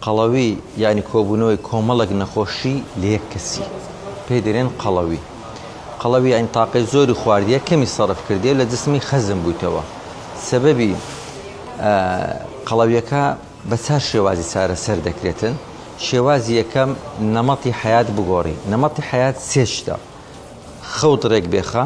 قەڵەوی یانی کۆبوونەوەی کۆمەڵێک نەخۆشی لە یەک کەسی پێی دەرێن قەڵەوی. قەڵەوی یانی تاقەی زۆری خواردیە کەمی سەرف کردیە و لە جسمی خەزن بوویتەوە. سەبەبی قەڵەویەکە بە چار شێوازی چارەسەر دەکرێتن. شێوازی یەکەم نەمەتی حەیات بگۆڕی. نەمەتی حەیات سێ شتە. خەوت رێک بێخە.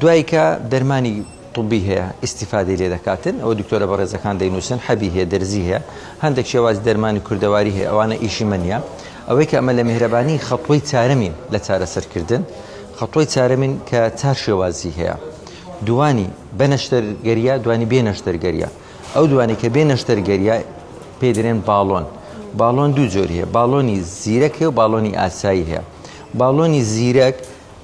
دوای کە دەرمانی طبی هەیە ئیسیفادی لێ دەکاتن ئەو دکتۆرە بەڕێزەکان دەینووسن حەبی هەیە دەرزی هەیە هەندێک شێوازی دەرمانی کوردەواری هەیە ئەوانە ئیشی منە ئەوەی کە ئەمە لە میهرەبانی خەتۆی چارەمین لە چارەسەرکردن خەتۆی چارەمین کە چار شێوازی هەیە دوانی بەنەشتەرگەریە دوانی بێ نەشتەرگەریە ئەو دوانی کە بێ نەشتەرگەریە پێ درێن باڵۆن باڵۆن دوو جۆری هەیە باڵۆنی زیرەک هەیە و باڵۆنی ئاسایی هەیە باڵۆنی زیرەک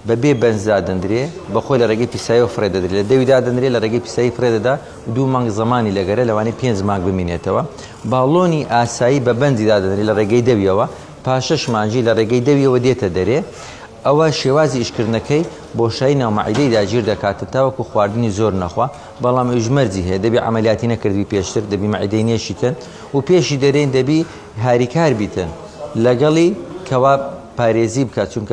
بە بێ بەنج دادەندرێ، بە خۆی لە ڕێگەی پیساییەوە فڕێ دەدرێ، لە دەوی دادەندرێ، لە ڕێگەی پیسایی فڕێ دەدا و دوو مانگ زەمانی لەگەرە، لەوانەیە پێنج مانگ بمینێتەوە. باڵۆنی ئاسایی بە بەنجی دادەندرێ لە ڕێگەی دەویەوە، پاش شەش مانگی لە ڕێگەی دەویەوە دێتە دەرێ. ئەوە شێوازی ئیشکردنەکەی، بۆشایی ناو مەعیدەی داگیر دەکاتە تاوەکو خواردنی زۆر نەخوا، بەڵام ئەویش مەرجی هەیە، دەبی عەمەلیاتی نەکردبی پێشتر، دەبی مەعیدەی نێشیتن و پێشی دەرێن، دەبی هاریکار بیتن لەگەڵی کەوا پارێزی بکا، چونکە.